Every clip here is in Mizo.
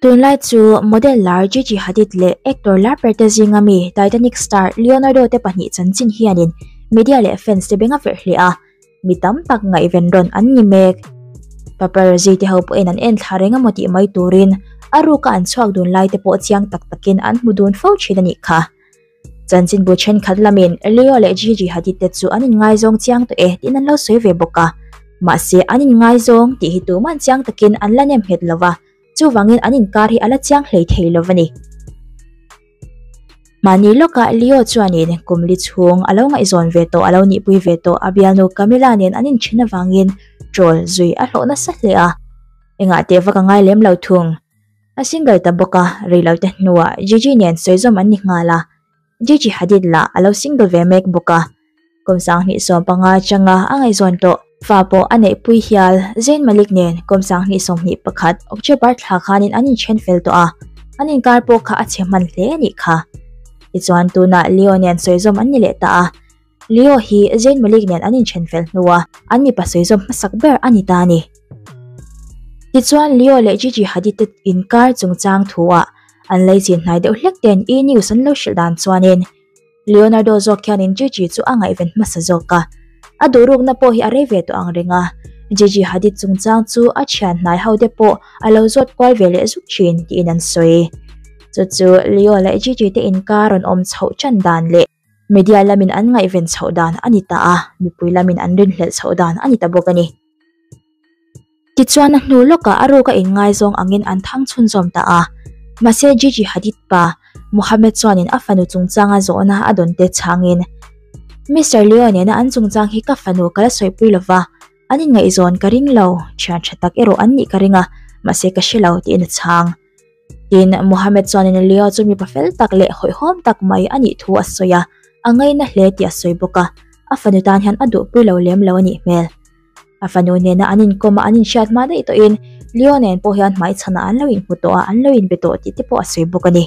Tunlai chu model lar Gigi Hadid leh actor lar ber te zinga mi Titanic star Leonardo te pahnih chanchin hianin media leh fans te benga ferh hle a. mi tam tak ngaihven rawn an ni mek. Paparazzi te ho pawhin an en thlar engemaw tih mai turin a ruka an chhuak dun lai te pawh chiang tak takin an hmu dun fo thin a nih kha. Chanchinbu thenkhat lamin Leo leh Gigi Hadid te chu an inngaizawn chiang tawh e tiin an lo sawi ve bawk a, mahse an inngaizawn tih hi tuman chiang takin an la nem nghet lo va, Chuvangin an inkar hi a la chiang hlei thei lo va ni. Mahni lawkah Leo chuanin kum li chhung a lo ngaihzawn ve tawh, a lo nihpui ve tawh a bialnu Camilla nen an inthin avangin ṭawl zui a hlawh nasa hle a. Engah teh va ka ngai lem lo thung? A single ta bawk a, rei lote hnuah Gigi nen sawizawm an ni nghal a, Jiji Hadid lah a lo single ve mek bawk a, Kawmsang hnihsawm panga changa a ngaihzawn tawh. Fa pawh a neih pui hial, Zayn Malik nen Kawmsang hnihsawm hnih pakhat October thla khanin an inthen fel tawh a, an inkar pawh kha a chhe hman hle a nih kha. Tichuan tunah Leo nen sawizawm an ni leh ta a. Leo hi Zayn Malik nen an inthen fel hnu a, an mipa sawizawm hmasak ber a ni ta a ni. Tichuan, Leo leh Gigi Hadid-te inkar chungchang thu-ah an lei chin hnai deuh hlek ten E! News an lo hrilh dan chuanin, Leonardo zawk hianin Gigi chu a ngaihven hmasa zawk a, a duhrukna pawh hi a rei ve tawh ang reng a, Gigi Hadid chungchang chu a thian hnai hote pawh a lo zawt kual ve leh zuk thin tiin an sawi. Chu chu Leo leh Gigi-te inkar rawn awm chhoh chan dan leh. Media lamin an ngaihven chhoh dan a ni ta a, mipui lamin an rinhlelh chhoh dan a ni ta bawk a ni. Tichuan a hnu lawkah a ruka inngaizawng angin an thangchhun zawm ta a. Mahse Gigi Hadid pa, Mohammed chuanin a fanu chungchanga zawhna a dawn tel changin, Mister Leo nena an chungchang hi ka fanu ka la sawipui lo va, an inngaihzawn ka ring lo, thiantha tak erawh an nih ka ring a, mahse ka hre lo, tiin a chhang. Tin, Muhammad chuan in Leo chu mipa fel tak leh hawihhawm tak mai a nih thu a sawi a, a ngaina hle tih a sawi bawk a, a fanu tan hian a duhpui lo lem lo a nih hmel. A fanu nena an inkawm a, an inhriat hma daih tawhin Leo nen pawh hian hmaichhanah an lo inhmu tawh a, an lo inbe tawh tih te pawh a sawi bawk a ni.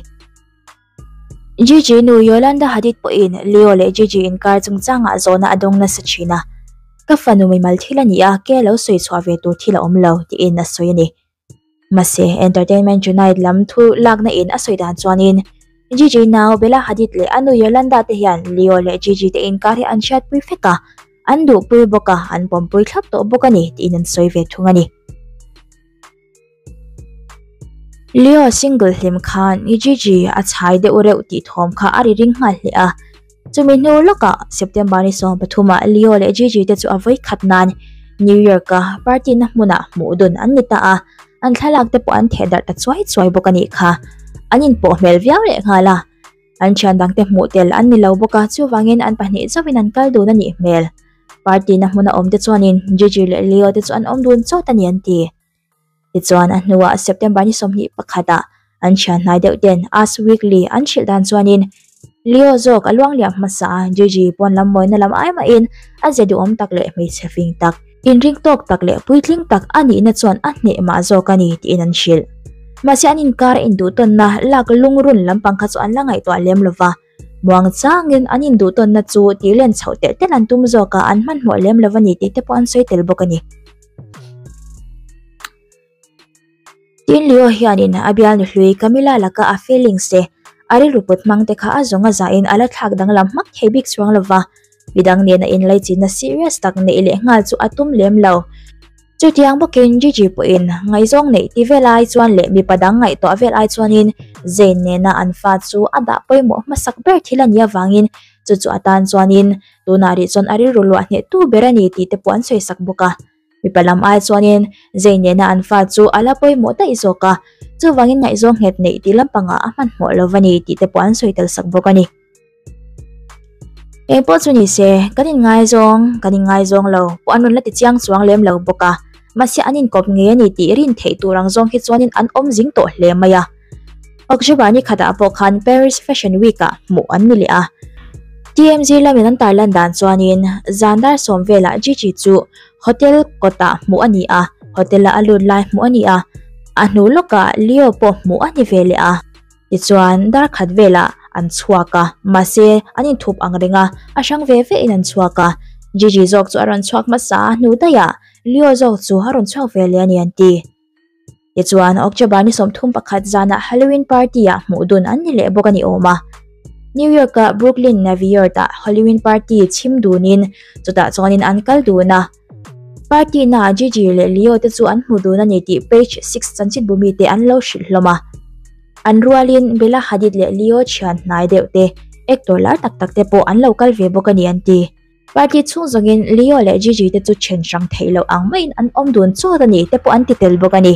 Gigi nu Yolanda Hadid pawhin Leo leh Gigi inkar chungchangah zawhna a dawng nasa thin a, Ka fanu mimal thil a ni a, kei a lo sawi chhuah ve tur thil a awm lo, tiin a sawi a ni. Mahse, Entertainment Tonight lam thu lakna in a sawi dan chuanin Gigi nau Bella Hadid leh a nu Yolanda te hian Leo leh Gigi te in kar hi an hriatpui fek a, an duhpui bawk a, an pawmpui thlap tawh bawk a ni tiin an sawi ve thung a ni. Leo single hlim khan Gigi a chhai deuh reuh tih thawm kha a ri ring nghal hle a. Chumi hnu lawkah September ni sawm pathuma Leo leh Gigi te chu a vawi khat nan New Year ka party na hmunah hmuh dun an ni ta a, an thlalak te pawh an theh darh ta chuai chuai bawk a nih kha. An inpawh hmel viau leh nghal a, an thian dang te hmuh tel an ni lo bawk a, chuvangin an pahnih chauhin an kal dun a nih hmel. Party na hmuna awm te chuanin Gigi leh Leo te chu an awm dun chawt a ni an ti. Tichuan, a hnuah September ni sawmhnih pakhatah an thianhnai deuh ten Us Weekly an hrilh dan chuanin Leo zawk a luangliam hmasa a, Gigi pawn lam mawina lam ai mahin a zia duhawm tak leh hmeichhe fing tak, inring tawk tak leh puitling tak a nihna chuan a hneh mah zawk a ni tiin an hrilh. Mahse an inkar a induhtawnna lak lungrun lampang kha chu an la ngaihtuah lem lo va. Muang changin an induhtawnna chu tih len chhoh telh telh an tum zawk a, an hmanhmawh lem lo va ni tih te pawh an sawi tel bawk a ni. Tin Leo hianin a bial ni hlui Camilla laka a feelings te, a rilru put hmang te kha a zawng a zahin a la thlak danglam hmak thei bik chuang lo va. i dang nen a in laichitna serious tak neih leh nghal chu a tum lem lo. Chutiang bawkin Gigi pawhin ngaizawng neih ti vel ai chuan leh mipa dang ngaih tawh vel ai chuanin Zayn nena an fa chu a dah pawimawh hmasak ber thil a nih avangin chu chu atan chuanin tunah rih chuan a rilru luah hneh tu ber a ni tih te pawh an sawi sak bawk a. Mipa lam ai chuanin zei nena an fa chu a la pawimawh daih zawk a, chuvangin ngaihzawng nghet neih tih lampangah a hmanhmawh lo a ni tih te pawh an sawi tel sak bawk a ni. Kei pawh chu ni se, kan inngaizawng, kan inngaizawng lo, pawh an rawn la ti chiang chuang lem lo bawk a, mahse an inkawp ngei a ni tih rin theih tur ang zawng hi chuanin an awmzing tawh hle mai a. Awk Zhuba nikhatah pawh khan Paris Fashion Week ah hmuh an ni leh a. TMZ lam in an tar lan dan chuanin zan dar sawm velah Gigi chu hotel kawtah hmuh a ni a, hotel ah a lut lai hmuh a ni a, a hnu lawkah Leo pawh hmuh a ni ve leh a. Tichuan darkhat velah an chhuak a, mahse an inthup ang reng a, a hrang ve ve in an chhuak a. Gigi zawk chu a rawn chhuak hmasa a, hnu daiah Leo zawk chu a rawn chhuak ve leh a ni an ti. Tichuan, October ni sawmthum pakhat zana Halloween party-a hmuh dun an ni leh bawk a ni awm a. New York-a Brooklyn Naviyard-a Halloween party chhim dunin chutah chuanin an kal dun a. Party-naah Gigi leh Leo-te chu an hmu dun a ni tih Page six Chanchinbu mite an lo hrilh hlawm a. An rualin Bella Hadid leh Leo thian hnai deuhte, actor lar tak tak te pawh an lo kal ve bawk a ni an ti. Party chhung zawngin Leo leh Gigi te chu then hrang theih loh ang maiin an awm dun chawt a ni te pawh an ti tel bawk a ni.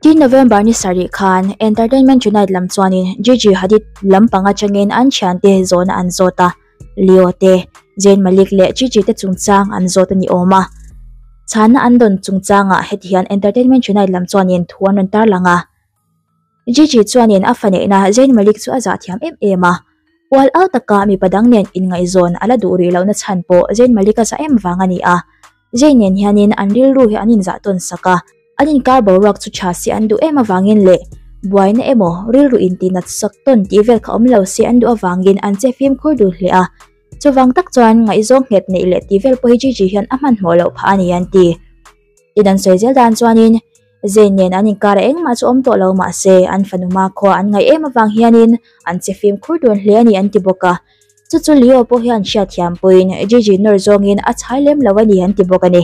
Tin November ni sarih khan Entertainment Tonight lam chuanin Gigi Hadid lam pang atangin an thian te zawhna an zawt a. Leo te, Zayn Malik leh Gigi te chungchang an zawt a ni awm a. Chhanna an dawn chungchangah hetihian Entertainment Tonight lam chuanin thu an rawn tarlang a. Gigi chuanin a faneihna Zayn Malik chu a zah thiam em em a. Pual au taka mipa dang nen inngaihzawn a la duh rih lohna chhan pawh Zayn Malik a zah em vang a ni a. Zayn nen hianin an rilru hi an inzah tawn sak a. An inkar boruak chu tha si an duh em avangin leh buaina emaw rilru inti nat sak tawn tih vel kha awm lo si an duh avangin an che fimkhur dul hle a. Chuvang tak chuan ngaihzawng nghet neih leh tih vel pawh hi Gigi hian a hmanhmawh loh phah a ni an ti. Tin an sawi zel dan chuanin. zai nen an inkar a engmah chu awm tawh lo mah se an fanuma khaw an ngaih em avang hianin an che fimkhur dun hle a ni an ti bawk a. Chu chu Leo pawh hian hriatthiam puiin Gigi nawr zawngin a chhai lem lo a ni an ti bawk a ni.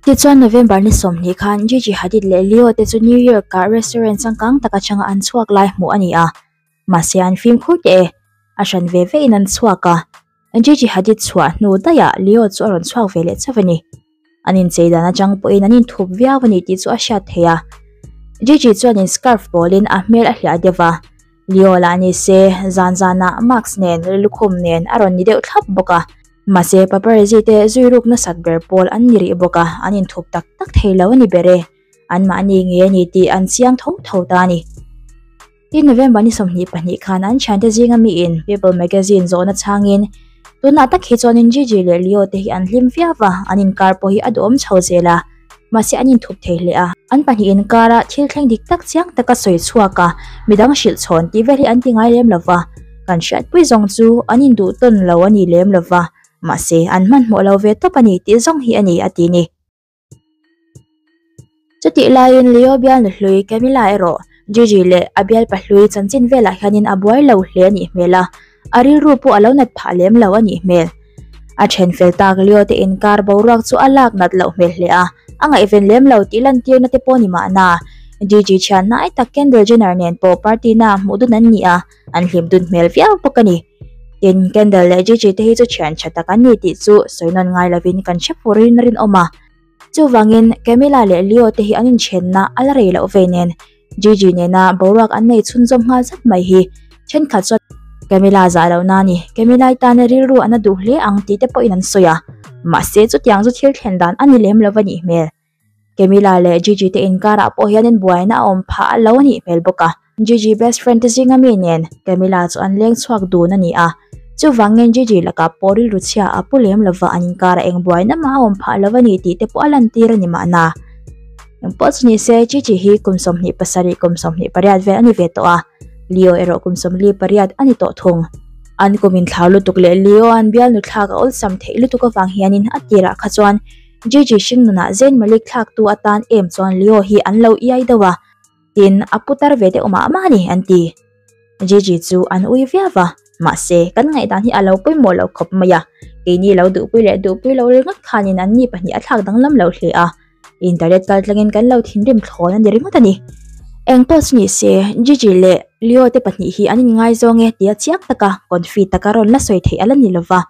Tichuan November ni sawmhnih khan Gigi Hadid leh Leo te chu New Year kah restaurant changkang tak aṭhanga an chhuak lai hmuh a ni a. mahse an fimkhur teh e, a hran ve ve in an chhuak a, Gigi Hadid chhuah hnu daihah Leo chu a rawn chhuak ve leh chauh a ni. An inchei dan atang pawhin an inthup viau a nih tih chu a hriat theih a. Gigi chuanin scarf pawlin a hmel a hliah deuh va, Leo lah ni se zan zanah Max nen lukhum nen a rawn ni deuh thlap bawk a. Mahse paparazzi te zui ruk nasat ber pawl an ni rih bawk a, an inthup tak tak thei lo a ni ber e, anmahni nge ni tih an chiang tho tho ta a ni. I November ni sawmhnih pahnih khan an thiante zinga miin People Magazine zawhna chhangin tunah tak hi chuanin Gigi leh Leo te hi an hlim viau va, an inkar pawh hi a duh awm chho zel a, mahse an inthup thei hle a. An pahnih inkar a thil thleng dik tak chiang taka sawi chhuak a, midang hrilh chhawn tih vel hi an ti ngai lem lo va, kan hriatpui zawng chu an induh tawn lo a ni lem lo va, mahse an hmanhmawh lo ve tawp a ni tih zawng hi a ni a ti ni. Chutih laiin Leo bialna hlui Camilla erawh Gigi leh a bialpa hlui chanchin velah hianin a buai lo hle a nih hmel a, a rilru pawh a lo nat phah lem lo a nih hmel. A then fel tak Leo te in kar boruak chu a lak nat loh hmel hle a, a ngaihven lem lo tih lantirna te pawh ni mahna, Gigi thian hnai tak Kendall Jenner nen pawh party-na hmuh dun an ni a, an hlim dun hmel viau bawk a ni. Tin, Kendall leh Gigi te hi chu thian tha tak an ni tih chu sawi nawn ngai lovin kan hre furin a rinawm a. Chuvangin, Camilla leh Leo te hi an inthianna a la rei loh ve nen, Gigi nena boruak an nei chhunzawm nghal zat mai hi thenkhat chuan, Camilla zah loh na a ni, Camilla-i tana rilru a na duh hle ang tih te pawhin an sawi a, mahse chutiang chu thil thlen dan a ni lem lo a nih hmel. Camila leh Gigi te inkarah pawh hianin buaina a awm phah a lo a nih hmel bawk a. Gigi best friend te zinga mi nen Camila chu an leng chhuak dun a ni a. Chuvangin Gigi lakah pawh rilru chhia a pu lem lova an inkar a eng buaina mah a awm phah lo a nih tih te pawh a lantir a ni mahna. Engpawh chu ni se Gigi hi kum sawmhnih pasarih kum sawmhnih pariat vel a ni ve tawh a. Leo erawh kum sawmli pariat a ni tawh thung. An kum inthlau lutuk leh Leo-a an bialnu thlak a awlsam theih lutuk avang hianin a tirah kha chuan Gigi hring nunah Zayn Malik thlaktu atan em chuan Leo hi an lo iai deuh a, tin a putar ve deuh mah mah a ni, an ti. Gigi chu an ui viau a, mahse, kan ngaihdan hi a lo pawimawh loh khawp mai a, keini lo duhpui leh duhpui lo ri ngawt khanin an ni pahnih a thlak danglam loh hle a, internet kal tlangin kan lo thinrim thlawn a ni ringawt a ni. Eng pawh chu ni se, Gigi leh Leo te pahnih hi an inngai zawng e, tia chiang taka, confit taka rawn la sawi theih a la ni lo va.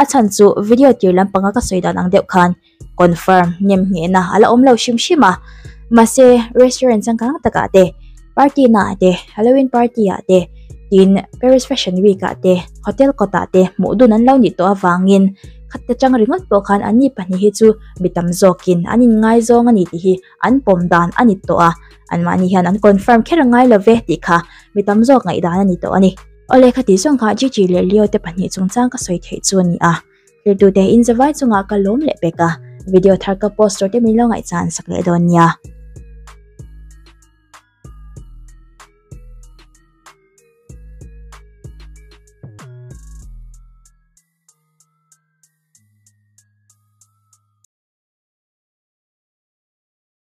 A chhan chu video tir lam panga ka sawi dan ang deuh khan confirm nem nghehna a la awm lo hrim hrim a. Mahse restaurant changkang takah te, party naah te, Halloween party ah te, tin Paris Fashion Week ah te, hotel kawtah te hmuh dun an lo nih tawh avangin khat te chang ringawt pawh khan an ni pahnih hi chu mi tam zawkin an inngai zawng a ni tih hi an pawm dan a ni tawh a. Anmahni hian an confirm kher a ngai lo ve tih kha mi tam zawk ngaihdan a ni tawh a ni. Awle kha ti zawngah Gigi leh Leo te pahnih chung chang ka sawi theih chu a ni a, thirtute inza vai chungah ka lawm leh pek a, video thar ka post tur te min lo ngaihchah an sak leh dawn nia.